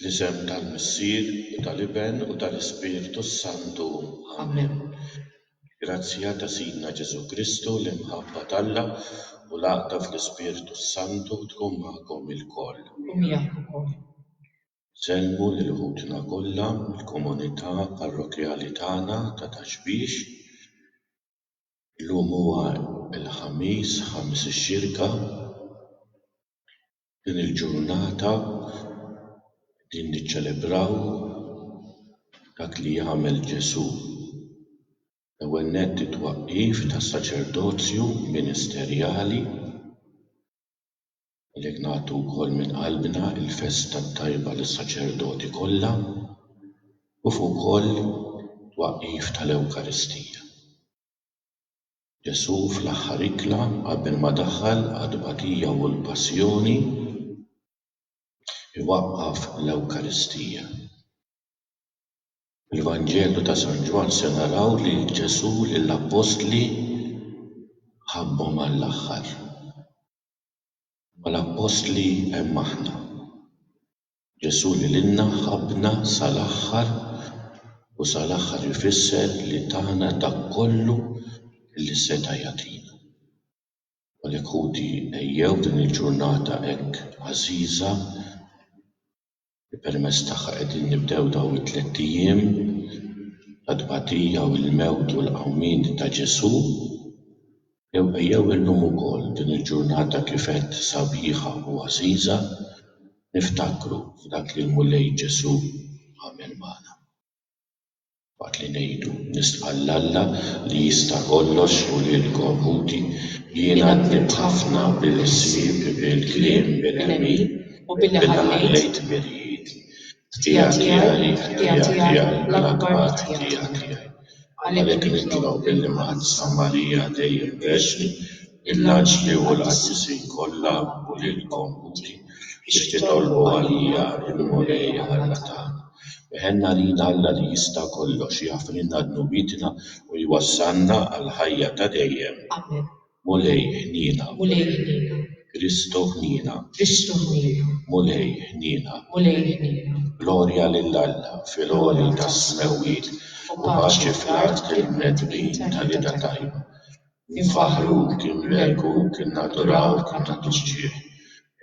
Fl-isem tal-Missier u tal-Iben u tal-Ispirtu s-Santu. Amen. Il-grazzja ta' Sidna Ġesù Kristu, l-imħabba t'Alla u l-għaqda fl-Ispirtu s-Santu tkun magħkom ilkoll. U miegħek ukoll. Insellmu lil ħutna kollha mill-komunità parrokkjali tagħna ta' Ta' Xbiex. Illum huwa l-Ħamis ħames ix-Xirka. Din il-ġurnata qegħdin niċċelebraw dak li għamel Ġesù. L-ewwel nett it-twaqqif tas-saċerdozju ministerjali. Għalhekk nagħtu wkoll minn qalbna l-festa t-tajba lis-saċerdoti kollha kif ukoll it-twaqqif tal-Ewkaristija. Ġesù fl-aħħar ikla qabel ma daħal għat-tbatija u l-passjoni jwaqqaf l-Ewkaristija. Fil-Vanġelu ta' San Ġwann se naraw li Ġesù lill-Appostli ħabbhom għall-aħħar. Mal-Appostli hemm aħna. Ġesù lilna ħabbna sal-aħħar u sal-aħħar ifisser li tana dak kollu li seta' jagħtina. Għalhekk ħuti ejjew din il-ġurnata hekk għażiża li permezz tagħha qegħdin nibdew dawn it-tlett ijiem ta' tbatija u l-mewt u l-qawmien ta' Ġesù, Ejjew illum ukoll, din il-ġurnata kif għedt sabiħa u għażiża, niftakru f'dak li l-Mulej Ġesù għamel magħna. Waqt li ngħidu, Nisħaq 'l Alla li jista' kollox u lilkom, ħuti, jiena għaddibt ħafna bil-ħsieb, bil-kliem, bil-għemil, billi ħallejt mirjieħi, ħtija tiegħi, ħtija tiegħi, l-akbar ħtija tiegħi. Għalhekk nitlob illi ma' Ħadd San Marija dejjem Verxni, il-anġli u l-qaddisin kollha u lilkom Ħuti biex titolbu għalija l-Mulej Alla tagħna. Weħelna għalina Alla li jista' kollox, jagħfrilna dnubietna u jwassalna għall-ħajja ta' dejjem. Amen. Mulej ħniena. Mulej ħniena. Kristu ħniena. Kristu ħniena. Mulej ħniena. Mulej ħniena. Glorja lil Alla fil-għoli tas-smewwiet u paċi fl-art lill-mnedmin tal-idha tajba. Infaħħruk, inbierkuk, innadurawk, innaddixxih.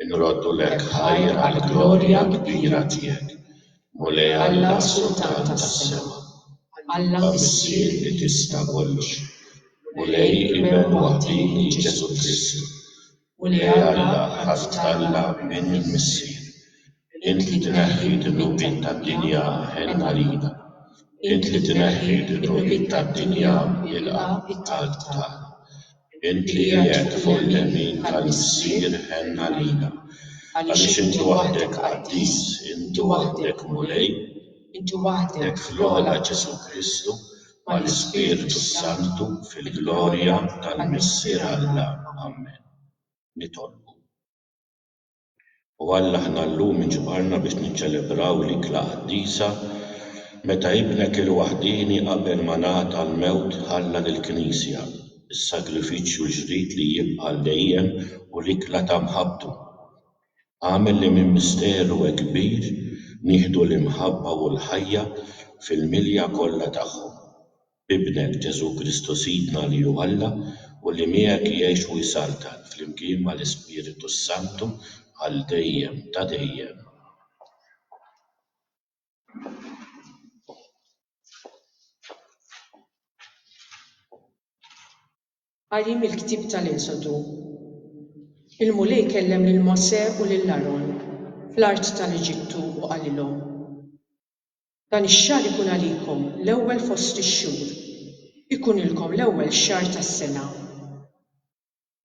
Inroddulek ħajr għall-glorja kbira tiegħek. Mulej Alla Sultan tas-sema, Alla Missier li tista' kollox, Mulej Iben waħdieni Ġesù Kristu, Mulej Alla ħa titgħalla minn il-Missier, int li tneħħi d-dnubiet tad-dinja ħenn għalina, int li tneħħi d-dnubiet tad-dinja ilqa' t-talb tagħna, Int li qiegħed fuq il-lemin tal-Missier ħenn għalina, għaliex int waħdek qaddis, int waħdek Mulej, int waħdek fl-ogħla Ġesù Kristu, mal-Ispirtu s-Santu, fil-glorja tal-Missier Alla. Ammen. Nitolbu. U Alla aħna llum inġbarna biex niċċelebraw l-ikla qaddisa meta Ibnek il-waħdieni qabel ma ngħata l-mewt ħalla lill-Knisja s-sagrifiċċju l-ġdid li jibqa' għal dejjem u l-ikla ta' mħabbtu. Agħmel li minn misteru hekk kbir nieħdu l-imħabba u l-ħajja fil-milja kollha tagħhom. b'Ibnek, Ġesù Kristu Sidna li hu Alla u li miegħek jgħix u jsaltan flimkien mal-Ispiritu s-Santu għal dejjem ta' dejjem. Qari mill-Ktieb tal-Esodu Il-Mulej kellem lil Mosè u lil Aron fl-art tal-Eġittu u qalilhom. Dan ix-xahar ikun għalikom l-ewwel fost ix-xhur, ikunilkom l-ewwel xahar tas-sena.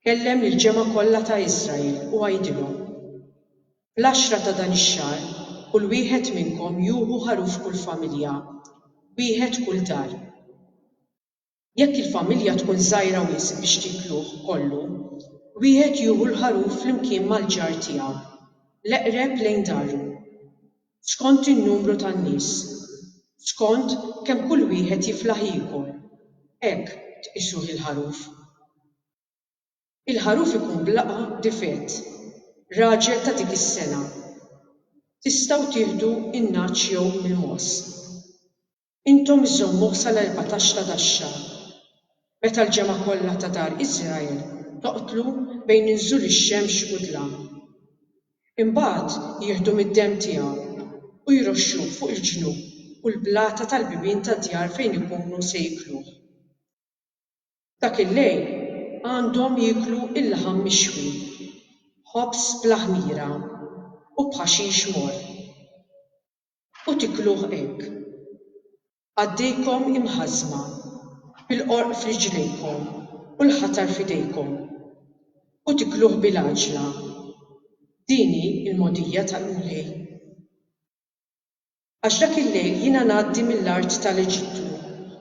Kellem lill-ġemgħa kollha ta' Israel u għidilhom, Fl-għaxra ta' dan ix-xahar kull wieħed minnkom juhu ħaruf kull familja, wieħed kull dar. Jekk il-familja tkun żgħira wisq biex tiekluh kollu, wieħed jieħu l-ħaruf flimkien mal-ġar tiegħu, l-eqreb lejn daru, skont in-numru tan-nies, skont kemm kull wieħed jiflaħ jiekol, hekk tqisuh il-ħaruf. Il-ħaruf ikun b'laqgħa difett, raġel ta' dik is-sena. Tistgħu tieħdu in-nagħaġ jew il-mogħoż. Intom żżommuh sal-erbatax ta' dax-xahar, meta l-ġemgħa kollha ta' dar Israel toqtlu bejn inżul ix-xemx u d-dlam. Imbagħad jieħdu mid-demm tiegħu u jroxxuh fuq il-ġnub u l-blata tal-bibien tad-djar fejn ikunu se jiekluh. Dak il-lejl għandhom jieklu l-laħam mixwi, ħobż bla ħmira, u b'ħaxix morr. u tikluh hekk. Għaddejkom imħażżma, bil-qorq f'riġlejkom u l-ħatar f'idejkom, u tikluh bil-għaġla. Din hi l-mogħdija tal-Mulej. Għax dak il-lejl jiena ngħaddi mill-art tal-Eġittu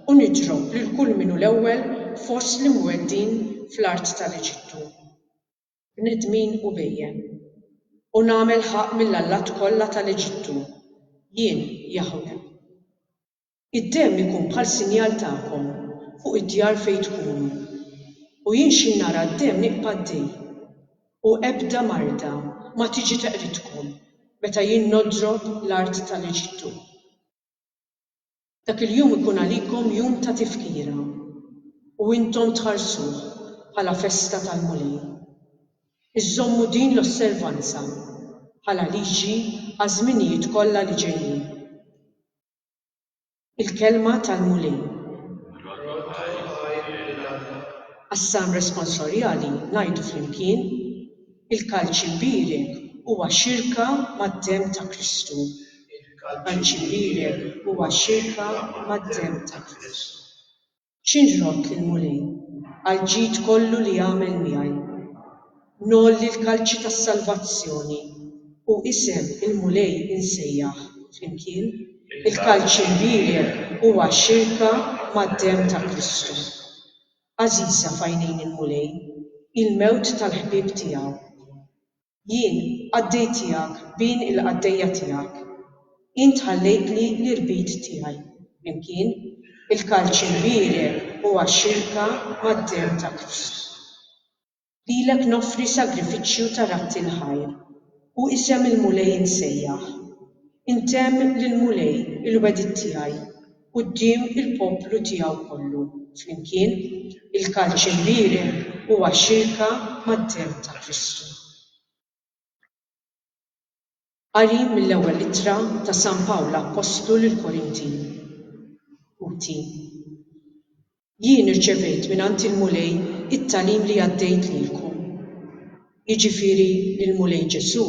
u nidrob lil kull min hu l-ewwel fost l-imweddin fl-art tal-Eġittu. bnedmin u bhejjem, u nagħmel ħaqq mill-allat kollha ta' l-Eġittu, jien Jaħweh. Id-demm ikun bħal sinjal tagħkom fuq id-djar fejn tkunu, u jien xi nara d-demm nibqa' d-dej, u ebda marda ma tiġi teqridkom meta jien nodrob l-art ta' l-Eġittu. Dak il-jum ikun għalikom jum ta' tifkira u intom tħarsuh bħala festa tal-Mulej. Iżżommu din l-osservanza bħala liġi għaż-żminijiet kollha li ġejjin. Il-Kelma tal-Mulej. Għas-Salm Responsorjali ngħidu flimkien. Il-Kalċi Mbierek huwa xirka mad-Demm ta' Kristu. Il-Kalċi Mbierek huwa xirka mad-Demm ta' Kristu. X'inrott lill-Mulej għall-ġid kollu li għamel miegħi? Ngħolli l-Kalċi tas-Salvazzjoni u isem il-Mulej insejjaħ flimkien? Il-Kalċi Mbierek huwa xirka mad-Demm ta' Kristu. Għażiża f'għajnejn il-Mulej hi l-mewt tal-ħbieb tiegħu. Jien qaddejtiehak b'għin il-qaddejja tiegħek. Int ħallejtli l-irbit tiegħi, flimkien, il-kalċi l-bierek u għax-xirka mad-demm ta' Kristu. Lilek noffri sagrifiċċju ta' ratti l-ħajr, u isem il-Mulej insejjaħ. Intemm lill-Mulej il-wegħdiet tiegħi quddiem il-poplu tiegħu kollu flimkien, il-kalċ imbierek huwa xirka mad-demm ta' Kristu. Qari mill-Ewwel Ittra ta' San Pawl l-Appostlu lill-Korintin. Ħuti, jien irċevejt mingħand il-Mulej it-tagħlim li għaddejt lilkom, jiġifieri li l-Mulej Ġesù,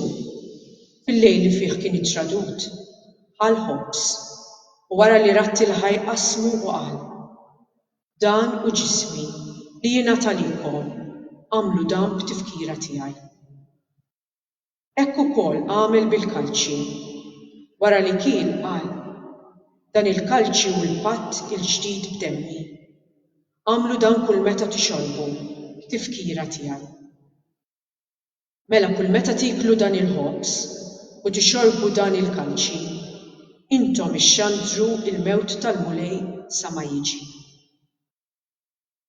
fil-lejl li fih kien ittradut, ħa l-ħobż, u wara li radd il-ħaj qassmu u qal, Dan hu ġismi li jingħata lilkom, agħmlu dan b'tifkira tiegħi. Hekk ukoll għamel bil-kalċi. Wara li kiel, qal, Dan il-kalċi hu l-patt il-ġdid b'demmi. Agħmlu dan kulmeta tixorbu, b'tifkira tiegħi. Mela kulmeta tieklu dan il-ħobż u tixorbu dan il-kalċi, intom ixxandru l-mewt tal-Mulej sa ma jiġi.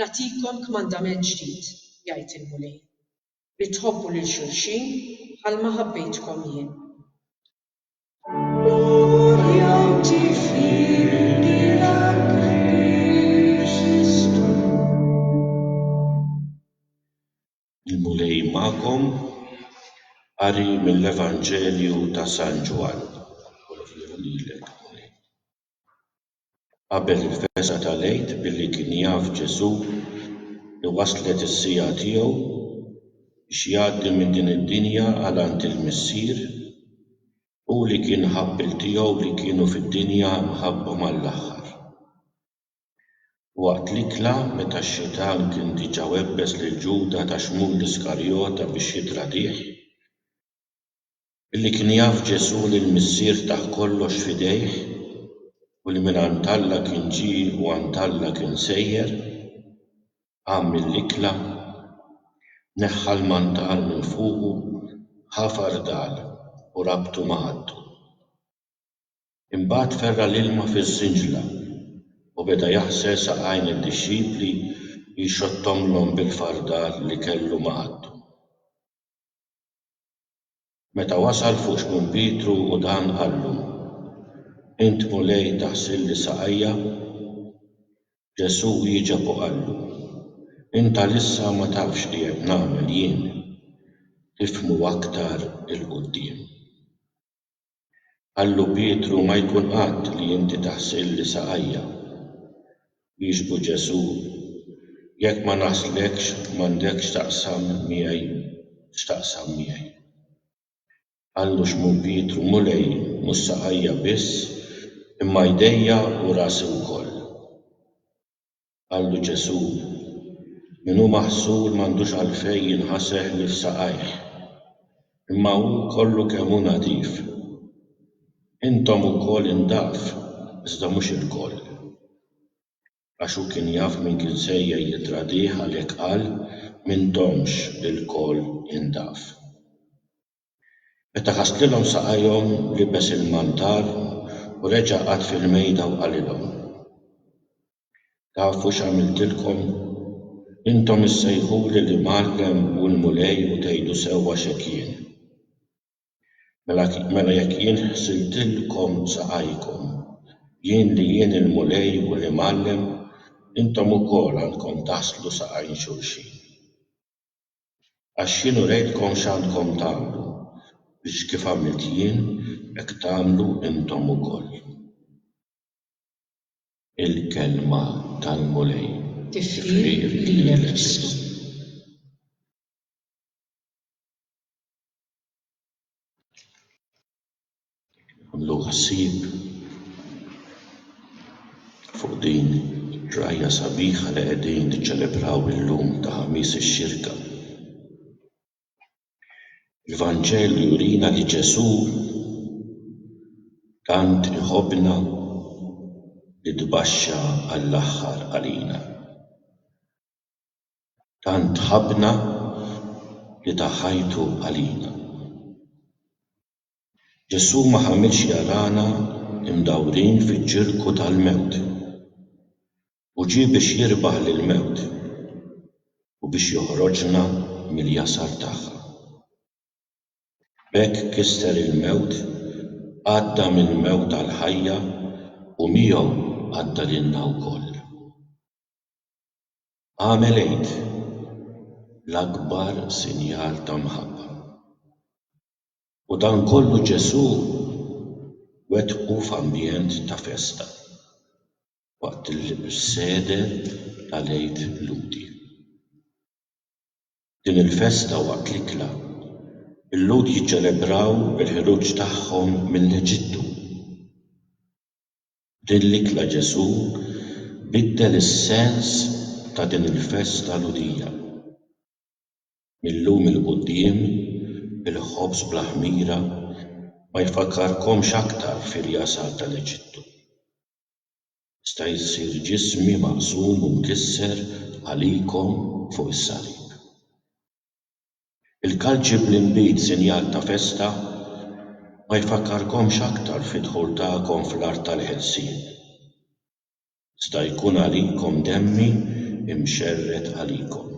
Nagħtikom kmandament ġdid, jgħid il-Mulej, li tħobbu lil xulxin bħalma ħabbejtkom jien. Il-Mulej magħkom, qari mill-Evanġelju ta' San Ġwann. qabel il-fesgħa tal-Għid billi kien jaf Ġesù li waslet is-siegħa tiegħu biex jgħaddi minn din id-dinja għal għand il-Missier, hu li kien ħabb il tiegħu li kienu fid-dinja mħabbhom għall-aħħar. Waqt l-ikla, meta x-Xitan kien diġà webbes lil Ġuda ta' Xmul l-Iskarjota biex jittradih, Billi kien jaf Ġesù li l-Missier tah kollox f'idejh u li mingħand Alla kien ġie u għand Alla kien sejjer, qam mill-ikla, neħħa l-mantal minn fuqu, ħa fardal u rabtu ma' ħaddu. Imbagħad ferra' l-ilma fiż-żinġla u beda jaħsel saqajn lid-dixxipli u jxottomlhom bil-fardal li kellu ma' ħaddu. Meta wasal fuq Xmun Pietru u dan qallu, Int Mulej taħsilli saqajja? Ġesù wieġeb u qallu, Int għalissa ma tafx li qed nagħmel jien, tifhmu aktar 'il quddiem. Qallu Pietru ma jkun qatt li inti taħsilli saqajja. Wieġbu Ġesù, Jekk ma naħslekx m'għandek x'taqsam miegħi x'taqsam miegħi. Qallu Xmun Pietru Mulej mhux saqajja biss imma jdejja u rasi wkoll. Qallu Ġesù, Min hu maħsur m'għandux għalfejn jinħaseh li f'saqajh, imma hu kollu kemm hu nadif. Intom ukoll indaf, iżda mhux ilkoll. Għax hu kien jaf min kien sejjer jittradih għalhekk qal, M'intomx ilkoll indaf. Meta ħasslilhom saqajhom, libes il-mantar u reġa' qagħad fil-mejda u qalilhom, Tafu x'għamiltilkom? Intom issejħuli l-Imgħallem u l-Mulej u tgħidu sewwa x'hekk jien. Mela mela jekk jien ħsiltilkom saqajkom, jien li jien il-Mulej u l-Imgħallem, intom ukoll għandkom taħslu saqajn xulxin. Għax jien urejtkom x'għandkom tagħmlu, biex kif għamilt jien, hekk tagħmlu intom ukoll. Il-kelma tal-Mulej tifħir lilek issu. Nagħmlu ħsieb fuq din il-ġrajja sabiħa li qegħdin niċċelebraw illum ta' Ħamis ix-Xirka. Il-Vanġelu jurina li Ġesù tant iħobbna li tbaxxa għall-aħħar għalina. Tant ħabbna li ta ħajtu għalina. Ġesù ma ħamilx jarana mdawrin fiċ-ċirku tal-mewt. U ġie biex jirbaħ lill-mewt, u biex joħroġna mill-jasar tagħha. B'hekk kisser il-mewt, għadda mill-mewt għall-ħajja, u miegħu għadda lilna wkoll. Agħmel għid, l-akbar sinjal ta' mħabba. U dan kollu Ġesù wettqu f'ambjent ta' festa. Waqt il-sede tal-Għid Lhudi. Din il-festa waqt l-ikla, il-Lhud jiċċelebraw il-ħruġ tagħhom mill-Eġittu. B'din l-ikla Ġesù biddel is-sens ta' din il-festa Lhudija. Mil-lum 'il quddiem il-ħobż bla ħmira ma jfakkarkomx aktar fir-jasar tal-Eġittu. Jista' jsir ġismi maqsum u mkisser għalikom fuq is-salib. Il-kalċi bl-inbid sinjal ta' festa ma jfakkarkomx aktar fid-dħul tagħkom fl-art tal-ħelsien. Iżda jkun għalikom demmi mxerred għalikom.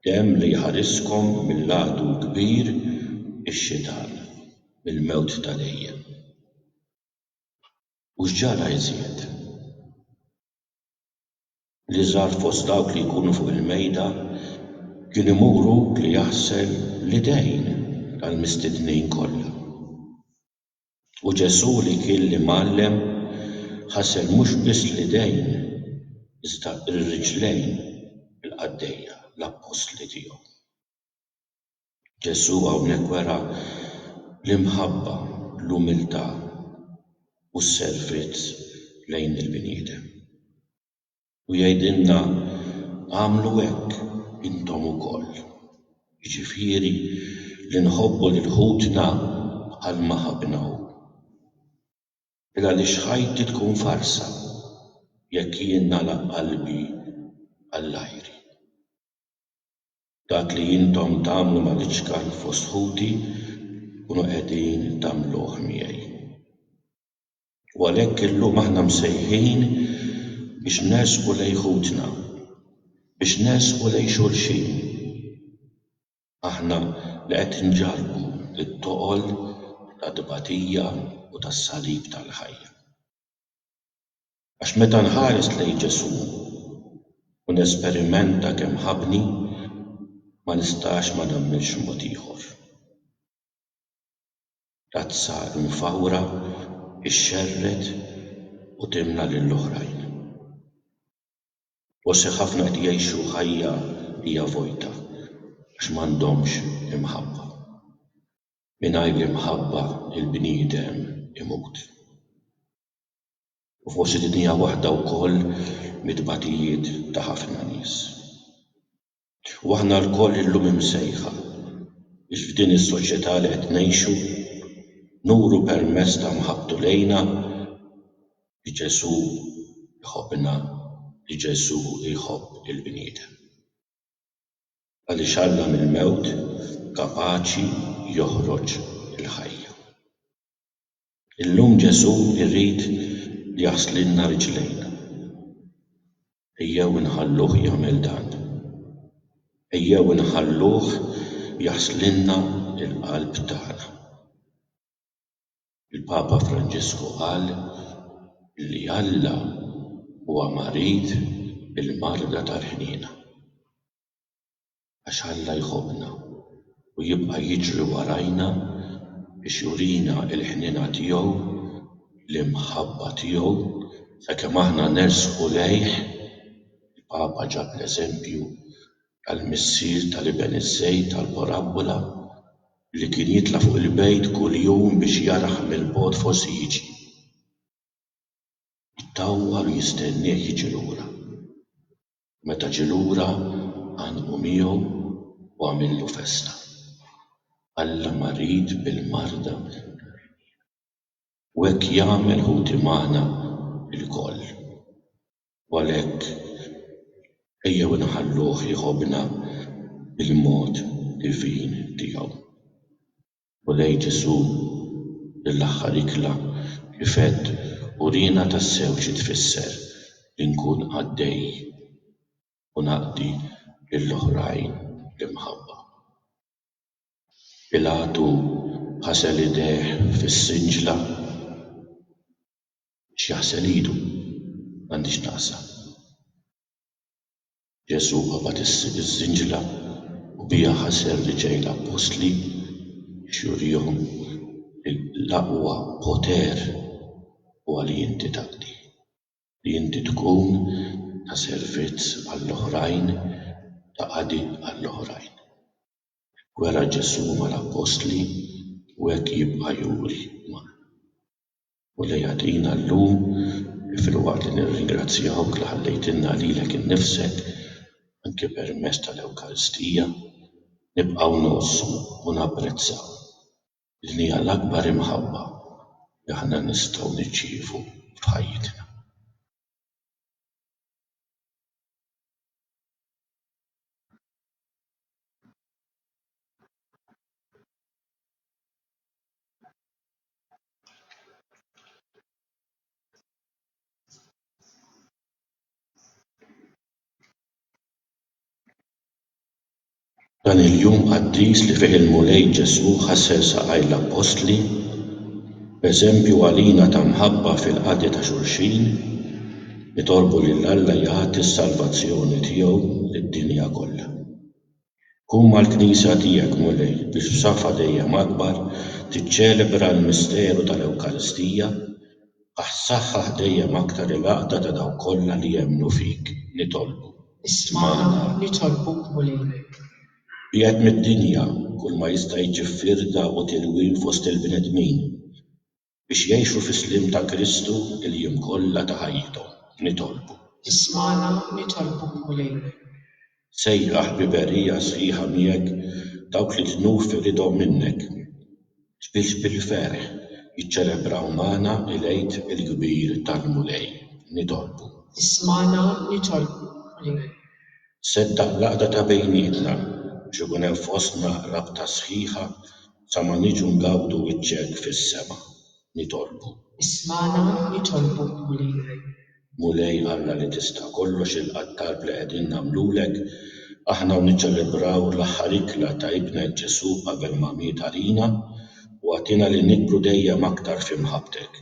Demm li jħariskom mill-għadu l-kbir, ix-Xitan, mill-mewt ta' dejjem. U x'ġara iżjed? Li żgħar fost dawk li jkunu fuq il-mejda kien imuru li jaħsel l-idejn tal-mistednin kollha. U Ġesù li kien l-Imgħallem ħasel mhux biss l-idejn iżda r-riġlejn il-qaddejja, l-appostli tiegħu. Ġesù hawnhekk wera l-imħabba, l-umiltà, u s-servizz lejn il-bniedem. U jgħidilna, Agħmlu hekk intom ukoll. Jiġifieri li nħobbu lil ħutna bħalma ħabbna hu. Qbil għaliex ħajti tkun farsa jekk jien nagħlaq qalbi għall-għajri. Dak li intom tagħmlu mal-iċkan fost ħuti tkunu qegħdin tagħmluh miegħi. U għalhekk illum aħna msejħin biex nersqu lejn ħutna, biex nersqu lejn xulxin. Aħna li qed inġarrbu t-toqol tat-tbatija u tas-salib tal-ħajja. Għax meta nħares lejn Ġesù u nesperimenta kemm ħabbni, ma nistax ma nagħmilx mod ieħor. L-għatsa imfawra xxerred u timla lill-oħrajn. Forsi ħafna qed jgħixu ħajja li hija vojta għax m'għandhomx imħabba. Mingħajr l-imħabba l-bniedem imut. U forsi din hija waħda wkoll mit-tbatijiet ta' ħafna nies. U aħna lkoll illum imsejħa biex f'din is-soċjetà li qed ngħixu nuru permezz ta' mħabbtu lejna li Ġesù jħobbna, li Ġesù jħobb lill-bniedem. Għaliex Alla mill-mewt kapaċi joħroġ il-ħajja. Illum Ġesù jrid li jaħslilna riġlejna. Ejjew inħalluh jagħmel dan. Ejjew inħalluh jaħslilna l-qalb tagħna. Il-Papa Franġisku qal li Alla huwa marid bil-marda tal-ħniena. għax Alla jħobbna u jibqa' jiġri warajna biex jurina l-ħniena tiegħu, l-imħabba tiegħu, sakemm aħna nersqu lejh. Il-Papa ġab l-eżempju tal-missier tal-iben iż-żejt tal-parabbola li kien jitla' fuq il-bejt kull jum biex jarah mill-bogħod forsi jiġi, jtawwal u jistennieh jiġi lura. Meta ġie lura, għannqu miegħu u għamillu festa. Alla marid bil-marda mill-imħarrġin. U hekk jagħmel ħuti magħna lkoll. U għalhekk, ejjew inħalluh jħobbna bil-mod divin tiegħu. U lejn Ġesù, l-aħħar ikla li fett uriena tassew xi tfisser li nkun qaddej u naqdi lil oħrajn bl-imħabba. Pilatu ħasel idejh fis-sinġla biex jaħsel idu, m'għandix naqsa. Ġesù qabad iż-żinġla u biha ħaser li ġej l-appostli biex jurihom li l-aqwa poter huwa li inti taqdi, li inti tkun ta' servizz għall-oħrajn, ta' qadi għall-oħrajn. Hekk wera Ġesù mal-appostli u hekk jibqa' juri magħna. u li jagħtina llum filwaqt li nirringrazzjawk li ħallejtilna lilek innifsek anke permezz tal-Ewkaristija nibqgħu ngħossu u napprezzaw din hija l-akbar imħabba li aħna nistgħu nirċievu f'ħajjitna. Dan il-jum qaddis li fih il-Mulej Ġesù ħassel saqajn l-Appostli, b'eżempju għalina ta' mħabba fil-qadi ta' xulxin, nitolbu lil Alla jagħti s-salvazzjoni tiegħu lid-dinja kollha. Qum mal-Knisja tiegħek, Mulej, biex f'safa dejjem akbar tiċċelebra l-misteru tal-Ewkaristija, aħ saħħaħ dejjem aktar il-għaqda ta' dawk kollha li jemmnu fik, nitolbu. Ismagħna, nitolbuk, Mulej. Biegħed mid-dinja kull ma jista' jġib firda u tilwim fost il-bnedmin. biex jgħixu fis-sliem ta' Kristu l-jiem kollha ta' ħajjithom. Nitolbu. Ismagħna, nitolbuk Mulej. Sejjaħ b'ħbiberija sħiħa miegħek dawk li tnuf iridhom minnek, biex bil-ferħ jiċċelebraw magħna l-Għid il-kbir tal-Mulej. Nitolbu. Ismagħna, nitolbuk Mulej. Seddaq l-għaqda ta' bejnietna, biex ikun hemm fostna rabta sħiħa Sa ma niġu ngawdu wiċċek fis-sema, nitolbu. Ismagħna nitolbu Mulej. Mulej Alla li tista' kollox ilqa' t-talb li qegħdin nagħmlulek aħna u niċċelebraw l-aħħar ikla ta' Ibnek Ġesù qabel ma miet għalina u agħtina li nikbru dejjem aktar f'imħabbtek.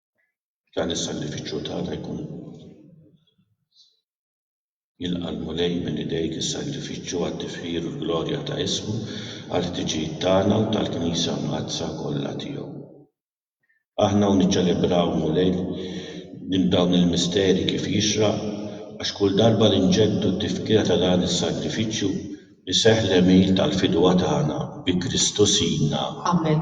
Dan is-sagrifiċċju tagħna jkun jilqa' l-Mulej minn idejk is-sagrifiċċju għat-tifħir u l-glorja ta' ismu, għall-ħtiġijiet tagħna u tal-Knisja Mqaddsa kollha tiegħu. Aħna hawn niċċelebraw, Mulej, dawn il-misteri kif jixraq, għax kull darba li nġeddu t-tifkira ta' dan is-sagrifiċċju, iseħħ l-għemil tal-fidwa tagħna bi Kristu Sidna. Amen.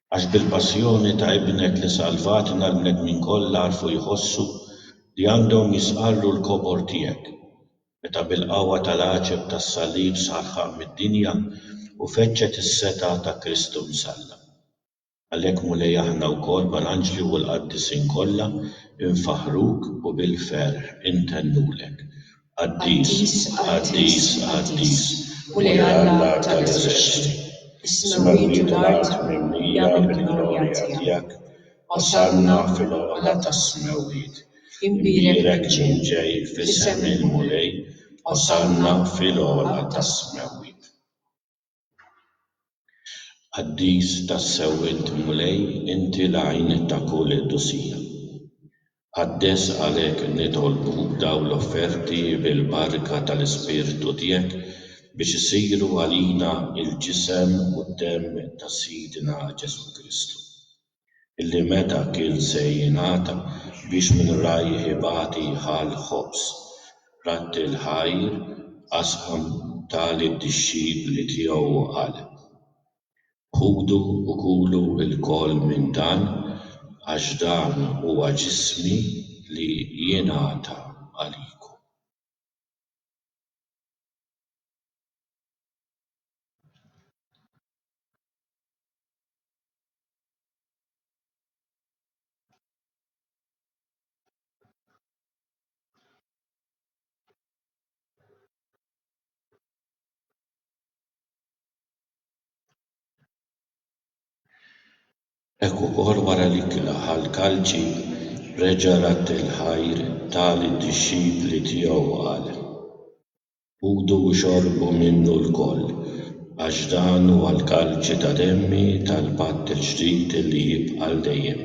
Għax bil-passjoni ta' Ibnek li salvatna l-bnedmin kollha għarfu jħossu li għandhom jistqarru l-kobor tiegħek, meta bil-qawwa tal-għaġeb tas-Salib sar ħamm mid-dinja u feġġet is-setgħa ta' Kristu msallab. Għalhekk, Mulej, aħna wkoll mal-anġli u l-qaddisin kollha, infaħħruk u bil-ferħ intennulek, Qaddis, qaddis, qaddis, Mulej Alla tal-eżerċti, is-smewwiet u l-art mimlija mill-glorja tiegħek, Osanna fil-ogħla tas-smewwiet, imbierek min ġej f'isem il-Mulej, Osanna fil-ogħla tas-smewwiet. Qaddis tassew int Mulej inti l-għajn ta' kull dusija. Qaddes għalhekk nitolbu dawn l-offerti bil-barka tal-Ispirtu tiegħek biex isiru għalina l-ġisem u d-demm ta' Sidna Ġesù Kristu. illi meta kien se jingħata biex minn rajh ibati ħall ħobż, ratti l-ħajr qasam ta lid-dixxipli tiegħu u qal, Ħudu u kulu lkoll minn dan għax dan huwa ġismi li jingħata għalikom. Hekk ukoll wara li kla ħall-kalċi, reġa' radd il-ħajr ta' lid-dixxipli tiegħu u qal. Kulu u xorbu minnu lkoll, għax dan huwa l-kalċi ta' demmi tal-patt il-ġdid li jibqa' għal dejjem.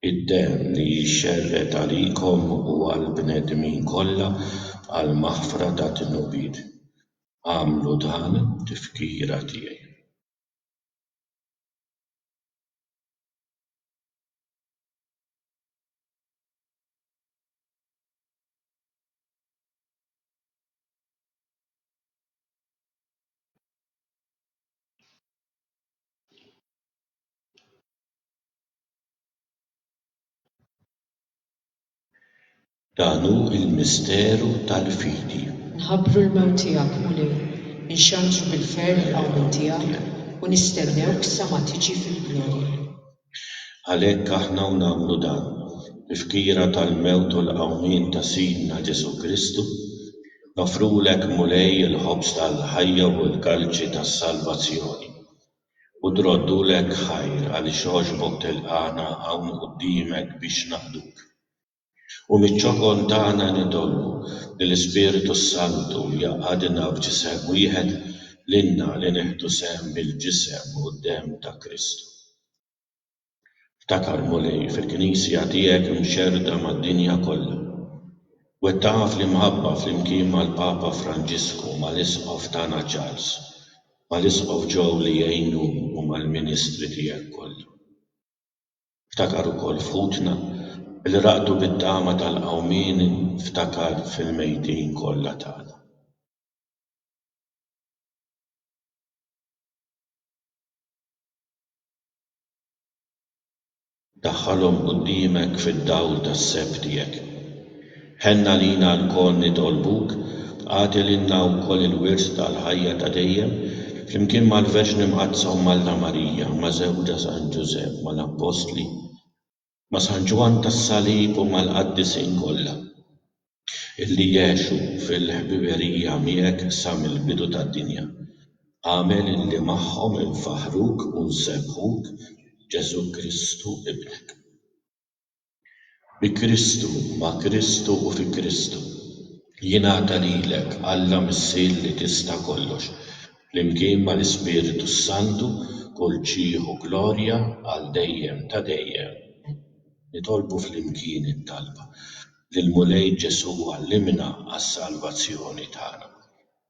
Id-demm li jixxerred għalikom u għall-bnedmin kollha għall-maħfra tad-dnubiet. Agħmlu dan b'tifkira tiegħi. Dan hu l-misteru tal-fidi. Nħabbru l-mewt tiegħek, Mulej, inxandru bil-ferħ il-qawmien tiegħek u nistennewk sa ma tiġi fil-glorja. Għalhekk aħna u nagħmlu dan, b'ifkira tal-mewt u l-qawmien ta' Sidna Ġesù Kristu, noffrulek, Mulej, il-ħobż tal-ħajja u l-kalċi tas-salvazzjoni, u droddulek ħajr għaliex għoxbok tilqagħna hawn quddiemek biex naqduk. U miċ-ċokon tagħna nitolbu li l-Ispirtu s-Santu jgħaqqadna f'ġisem wieħed lilna li nieħdu sehem mill-ġisem u d-demm ta' Kristu. Ftakar, Mulej, fil-Knisja tiegħek imxerrda mad-dinja kollha. Wettaqha fl-imħabba flimkien mal-Papa Franġisku, mal-Isqof tagħna Charles, mal-Isqof Joe li jgħinu u mal-ministri tiegħek kollha. Ftakar ukoll f'ħutna li raqdu bit-tama tal-qawmien ftakar fil-mejtin kollha tagħna. Daħħalhom quddiemek fid-dawl tas-seb tiegħek. Ħenn għalina lkoll nitolbuk, agħti lilna wkoll il-wirs tal-ħajja ta' dejjem, flimkien mal-Verġni Mqaddsa Omm Alla Marija, ma' żewġha San Ġużepp, mal-Appostli, ma' San Ġwann tas-Salib u mal-qaddisin kollha illi għexu fil-ħbiberija miegħek sa mill-bidu tad-dinja. Agħmel illi magħhom infaħħruk u nsebbħuk, Ġesù Kristu Ibnek. Bi Kristu, ma' Kristu u fi Kristu. Jingħata lilek, Alla Missier li tista' kollox, flimkien mal-Ispirtu s-Santu, kull ġieħ u glorja għal dejjem ta' dejjem. Amen. Nitolbu flimkien it-talba lill-Mulej Ġesù għallimna għas-salvazzjoni tagħna.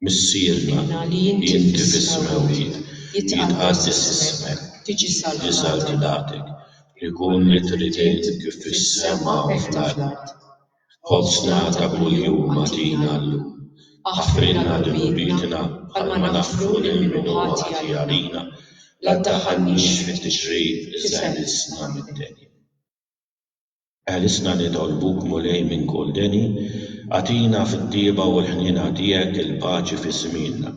Missierna, li inti fis-smewwiet jitqaddes ismek, tiġi saltnatek, ikun li trid int kif fis-sema u fl-art. Ħobżna ta' kuljum agħtina llum. Aħfrilna dnubietna bħalma naħfru lil min hu ħati għalina. La ddaħħalniex fit-tixrid iżda ħlisna mid-deni. Ħelisna nitolbuk, Mulej, minn kull deni, agħtina fit-tjieba u l-ħniena tiegħek il-paċi fi żmienna,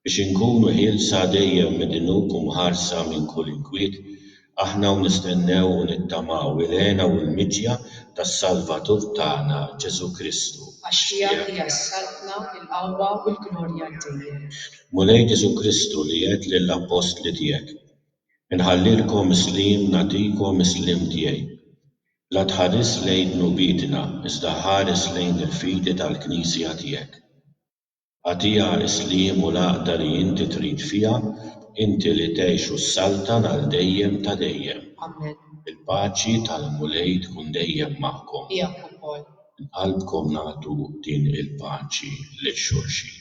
biex inkunu ħielsa dejjem mid-dnub u mħarsa minn kull inkwiet, aħna u nistennew u nittamaw il-hena u l-miġja tas-Salvatur tagħna, Ġesù Kristu. Għax tiegħek hija s-saltna, il-qawwa u l-glorja għal dejjem. Mulej Ġesù Kristu li għedt lill-appostli tiegħek, Inħallilkom is-sliem nagħtikom is-sliem tiegħi. La tħares lejn dnubietna iżda ħares lejn il-fidi tal-Knisja tiegħek. Agħtiha s-sliem u l-għaqda li inti trid fiha, inti li tgħix u ssaltan għal dejjem ta' dejjem. Amen. Il-paċi tal-Mulej tkun dejjem magħkom. Miegħek ukoll. Minn qalbkom nagħtu din il-paċi lil xulxin.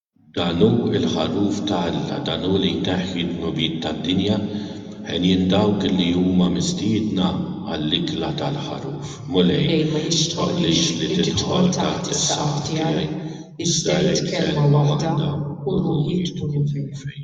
Dan hu l-Ħaruf ta' Alla, dan hu li jneħħi d-dnubiet tad-dinja, henjin dawk li huma mistiedna għall-ikla tal-Ħaruf. Mulej, ma jixtoqlix li tidħol taħt is-saqaf tiegħi, iżda għid kelma waħda u ruħi tkun fejn.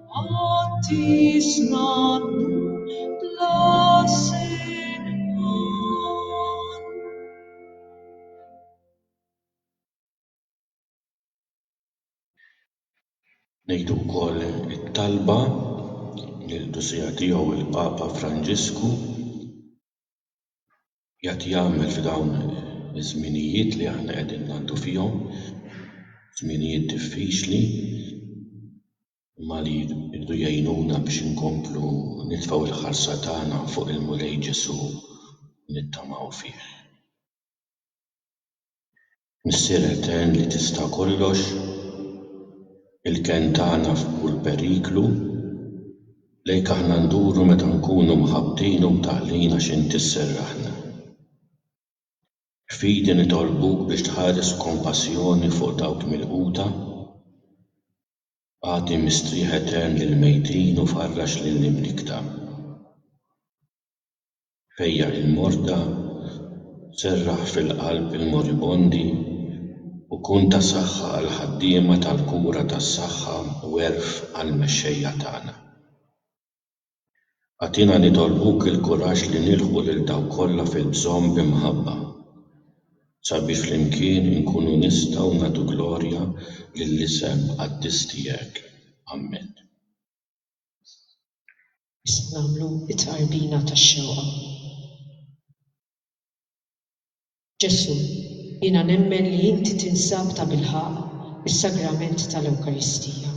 Ngħidu wkoll it-talba lill-Qdusija Tiegħu l-Papa Franġisku. Qiegħed jagħmel f'dawn iż-żminijiet li aħna qegħdin ngħaddu fihom, żminijiet diffiċli, imma li jridu jgħinuna biex inkomplu nitfgħu l-ħarsa tagħna fuq il-Mulej Ġesù u nittamaw fih. Missier Etern li tista' kollox, il-kenn tagħna f'kull periklu, lejk aħna nduru meta nkunu mħabbtin u mtaqqlin għax inti sserraħna. F'fidi nitolbuk biex tħares b'kompassjoni fuq dawk milquta, agħti mistrieħ etern lill-mejtin u farrax lill-imlikta. fejjaq il-morda, serraħ fil-qalb il-moribondi u kun ta' saħħa għall-ħaddiema tal-kura tas-saħħa u għerf għall-mexxejja tagħna. Agħtina nitolbuk il-kuraġġ li nilħqu lil dawk kollha fil-bżonn bi mħabba, sabiex flimkien inkunu nistgħu nagħtu glorja lill-isem qaddis tiegħek. Ammen. Issa nagħmlu t-tqarbina tax-xewqa. Ġesù, jiena nemmen li inti tinsab tabilħaqq fis-sagrament tal-Ewkaristija.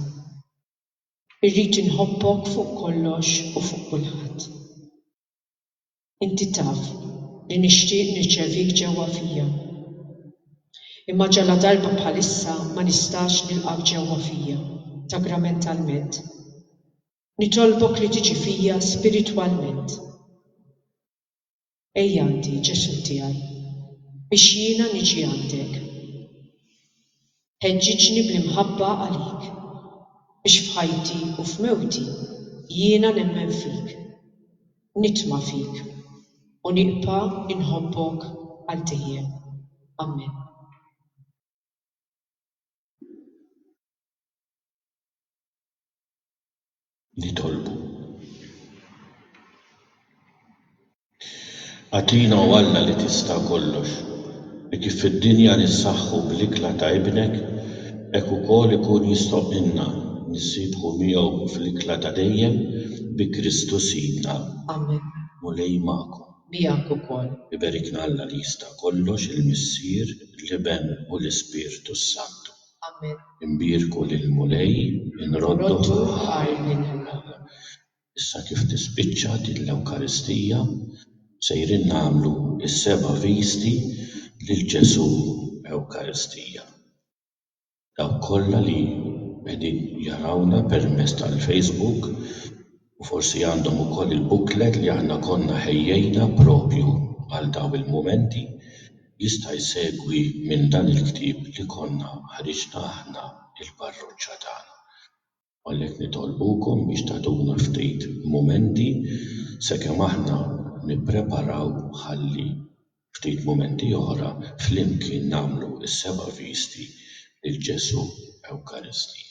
Irrid inħobbok fuq kollox u fuq kulħadd. Inti taf li nixtieq nirċevik ġewwa fija. Imma ġaladarba bħalissa ma nistax nilqgħek ġewwa fija, sagramentalment. Nitolbok li tiġi fija spiritwalment. Ejjgħaddi, Ġesù tiegħi, biex jiena niġi għandek. Ħeġġiġni bl-imħabba għalik, biex f'ħajti u f'mewti jiena nemmen fik, nitma' fik, u nibqa' inħobbok għal dejjem. Amen. Nitolbu. Agħtina, O Alla li tista' kollox, li kif fid-dinja nissaħħu bl-ikla ta' Ibnek, hekk ukoll ikun jistħoqqilna nissiebbħu miegħu fl-ikla ta' dejjem bi Kristu Sidna. Amen. Mulej magħkom. miegħek ukoll. Iberikna Alla li jista' kollox, il-Missier, l-Iben u l-Ispirtu s-Santu. Amen. Inbierku lill-Mulej, inrodduh ħaj lil Alla. Issa kif tispiċċa din l-Ewkaristija, sejrin nagħmlu s-seba' visti lil Ġesù Ewkaristija. dawk kollha li qegħdin jarawna permezz tal-Facebook u forsi għandhom ukoll il-booklet li aħna konna ħejjejna propju għal dawn il-mumenti, jista' jsegwi minn dan il-ktieb li konna ħriġna aħna, il-parroċċa tagħna. Għalhekk nitolbukom biex tagħtuna ftit mumenti sakemm aħna nippreparaw ħalli ftit mumenti oħra flimkien nagħmlu s-seba' visti lil Ġesù Ewkaristija.